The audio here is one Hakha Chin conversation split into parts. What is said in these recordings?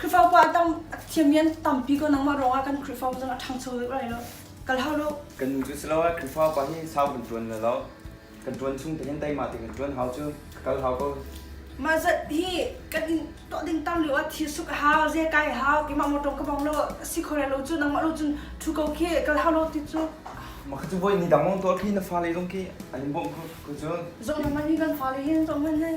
Khrifau pa tam thiam yan tampi ko nangmah ruangah kan Khrifau zong a ṭhangcho deuh lai lo. Kal hau lo. Kan nu cu si lo ah Khrifau pa hi sau kan ṭuan le lo. Kan ṭuan chung te hin teima te kan ṭuan hau cu. Ka kal hau ko. Mah zat hi kan in tuah ding tam lio ah thil suk a hau, ze kai a hau, keimah mawṭawng ka bong lo, a si kho lai lo cu nangmah lo cun ṭhu ko khi kal hau lo ti cu. Maka cu voi ni dang long tuah khi na fale long khi an in bawmh ko cu. Zong nangmah nih kan fale hin zong kan nei.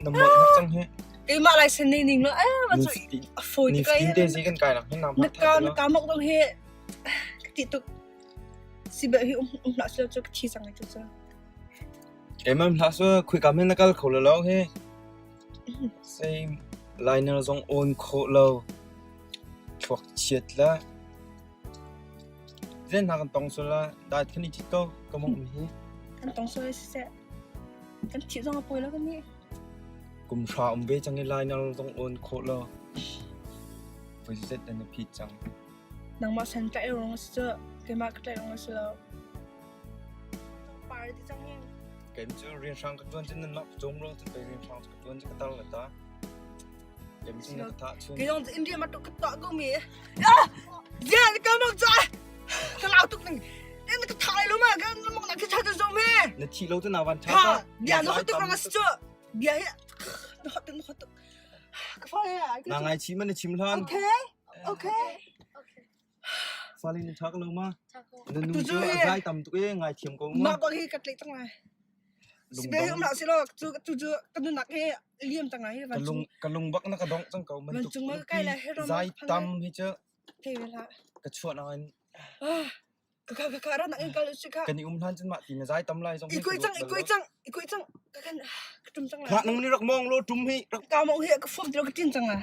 Na mawlh na cang hi. Keimah laisen nei ning lo eh ma cu a fawi ti kai. Ni te zi kan kai la hin na ma. Na ka na ka mok dong he ka ti tuk si be hi um um la so ka thi sang ai tu so. Keimah hla so khui ka men na kal kho lo lo he. Sai liner zong on kho lo. Thuak chiat la. Zen ha kan tong so la dai thani ti to ka mong hi. Kan tong so se Kan thih zong a pawi lo kan nih. Kum hra um ve cang i lainar zong awn khawh lo. Voi zet nan na phit cang. Nangmah san ka i rung si cu, keimah ka ṭaih rung si lo. Cang par ti cang hin. Kem cu rian hrang ka ṭuan cun nanmah ka cawm lo, cun pei rian hrang ka ṭuan cu ka tar la ta. Kayong in ria matuk ka ta go mi. Ah! Yeah, ka mong cha. Ka lau tuk ning. In ka thai lo ma kan mong na ka cha ta zo me. Na thi lo te na wan tha. Ha, bia no hatuk rang asu. Bia hi. No hatuk no hatuk. Ka fa ya. Na ngai chi man na chim lan. Okay. Okay. Salin na thak lo ma? Na nu cu a zai tam tuk e ngaithiam ko ma. Mah ko hi ka tlei tang lai. Si be um la si lo chu chu chu ka nu nak hi liam tang ai va Ka lung ka lungbak na ka dong chang ko man tuk. Vancung ma kai la hero ma Zai tam hi chu te la. ka chuan an Ah ka ka ka ran ang kal si ka. kan i um han chun ma ti na zai tam lai zong. Ikoi chang ikoi chang ikoi chang ka kan ka tum tang lai. Khak nung ni rak mong lo tum hi rak Ka mo hi ka form ti lo ka tin tang lai.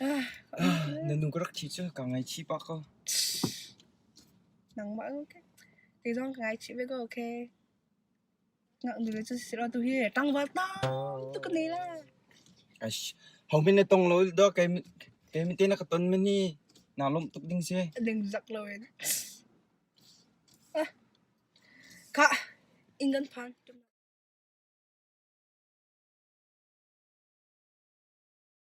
Na nu ka rak thi cu kaa ngaichih pah kaw. Nangmah ko kek. Kei zong ka ngaichih ve ko okay. Ngaknu cu si law tuhi ṭangval tamtuk ka nei la. Ash, homin na tong lo do kei kei mite na ka ton men hi. Naa lawmh tuk ding si. A ding zak lo in. Ah. Ka inn kan phan.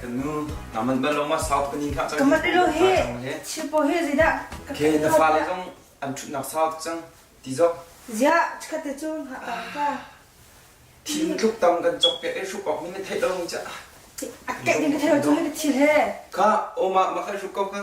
Kanu naman ban longma south kanin kha cang. Kamat ilo hi chipo hi zida. Ke na fa le zong an chut nak south cang. Ti zo. Zia khate chun ha ka ka. Thim tluk tam kan chok ke e shu kok ni ne thei long cha. Akke ni ka thei chun ni thil he. Ka o ma ma khai shu kok ka.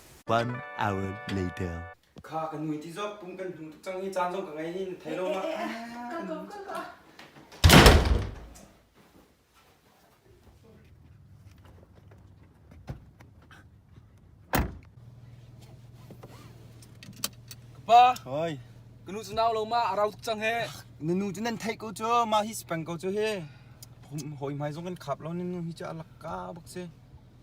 One hour later. Kha kan mui ti zok pum kan hnu tuk cang hi caan zong ka ngei ni na thei lo ma. Ka ko ka ko. Pa, Oi. kanu cu nau lo ma arau tuk cang he. Na nu cu nan theih ko cu ma hi si peng ko cu he. Hom hoi mai zong kan khap lo ni nu hi cha alak ka bak si.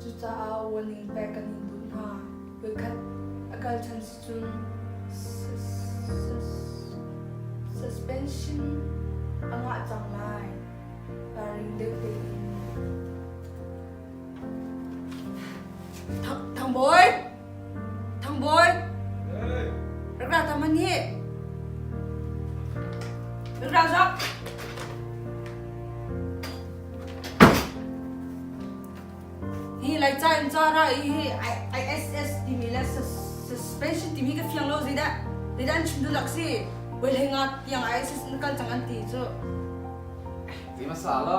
Cucaah warning pek kan in duh hna. Voikhat a kal ṭhan si cun suspension a ngah cang lai. Baring deuh tein. Thang Bawi! Thangbawi, rak ra ta man hi. Rak ra za. Hi lai cha in cha ra hi ISS timi le suspension timi ka fiang lo zei dah. Dei dan chim du lak si. Wei lei nga tiang ISS na kal cang an ti cu. Ti masa la.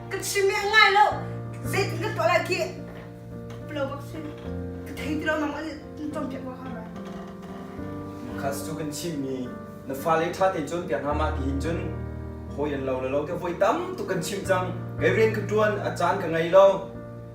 ka chim beh ngai lo zei ka tuah lai ki lo bak si ka thei ti lo nang an tom piak wa kha khas chu kan chim mi na fa le tha te chun piak nga ma ki hin chun hoi an lo lo te hoi tam tu kan chim chang mevren ka tuan a chan ka ngai lo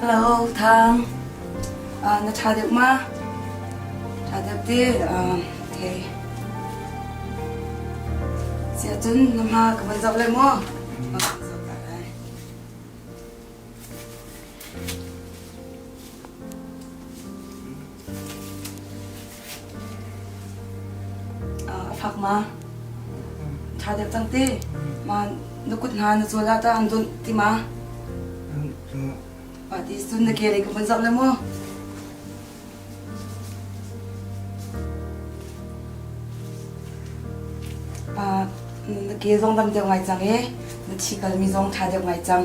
Hello, Thang. Uh, na tha deuh ma? Tha deuh te. Uh, okay. Sia cun na ma ka van zoh le maw? Oh, zoh ta lai. a fak ma ṭha deuh cang ti ma na kut hna na zual ah ta an dunh ti ma pa ti sun na kere ka vun zoh le mu pa na ke zong dam deuh ngai cang e na thi kal mi zong ṭha deuh ngai cang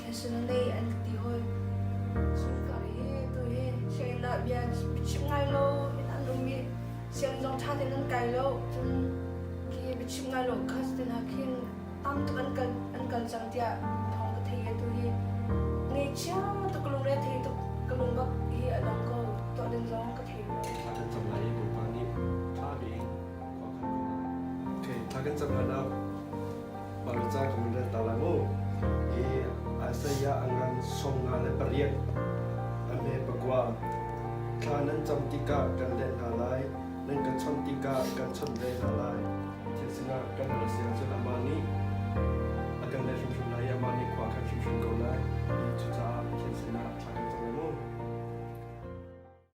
Personally an ka ti hoi. Sungkar hi tu hi Hlein ah bia biachim ngai lo in an um i siam zong ṭha tein an kai lo. Cun khi biachim ngai lo kha cutin ha khin tam tuk an kal an kal cang tiah thawng ka thei e tu hi. Ngei chia tuk ka lungre thei tuk ka lung bak hi a dang ko tuah din zong ka thei lo. Thla kan cam lai i Bawipa nih ṭha tein khua kan kuat. Okay, thla kan cam hlan ah Parca kong rel ta lai mu. I Isaiah angan song nga le pariat ame pakua thla nan cam tikah kan let hna lai nan kan chawnh tikah kan chawnh ve hna lai thil sinah kan ral sia cun amah nih a kan let hrimhrim lai i amah nih khua kan hrimhrim ko lai i cucaah thil sinah thla kan cam lai mu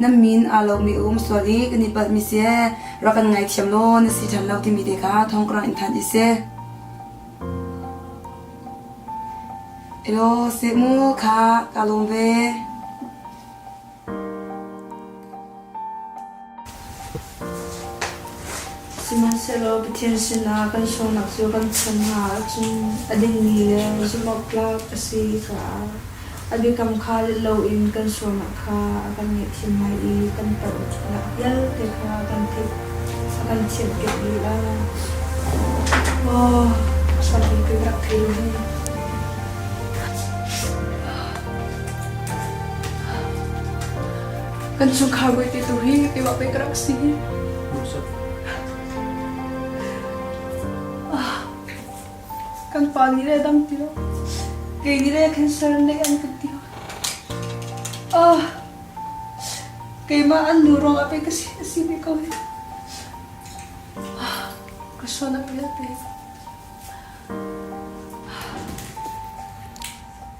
na min aa lomi a um sual i kan i palhmi seh rak kan ngaithiam law na si ṭhan lo timi te kha thongkrang in thanh i si. Elo se mu kha ka lawm ve. Sihmanhsehlaw Pathian sinah kan sualnak cu kan cham hna ahcun a dingmi le zumhawktlak a si caah a biakam kha let loin kan sualnak kha a kan ngaihthiam lai i kan palhnak vialte kha kan theih a kan thianhkeuh lila. Maw Sami ka rak thei hi. Kan chungkhar bawite tu hi keiwah pei ka rak si. Ah, kan pa nih le dam ti lo. Kei nih le cancer neih an kan ti. Ah, keimah an nu ruangah pei ka si, si ve ko hi. Ah, ka suan a pil pei.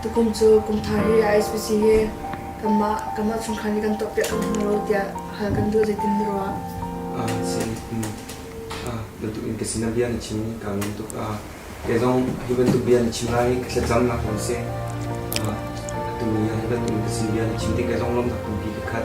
Tukum cu kum thar hi a ISPC he kanmah chungkhar nih kan tuahpiak hna hna lo tiah hal kan duh zeitin na ruah? Bantukin ka sinah bia na chim i ka ngam tuk. Kei zong hi bantuk bia na chim lai i ka thlacamnak kong si. Atu ni ah hi bantukin ka sin bia na chim ti kei zong lawmhnak tampi ka khat.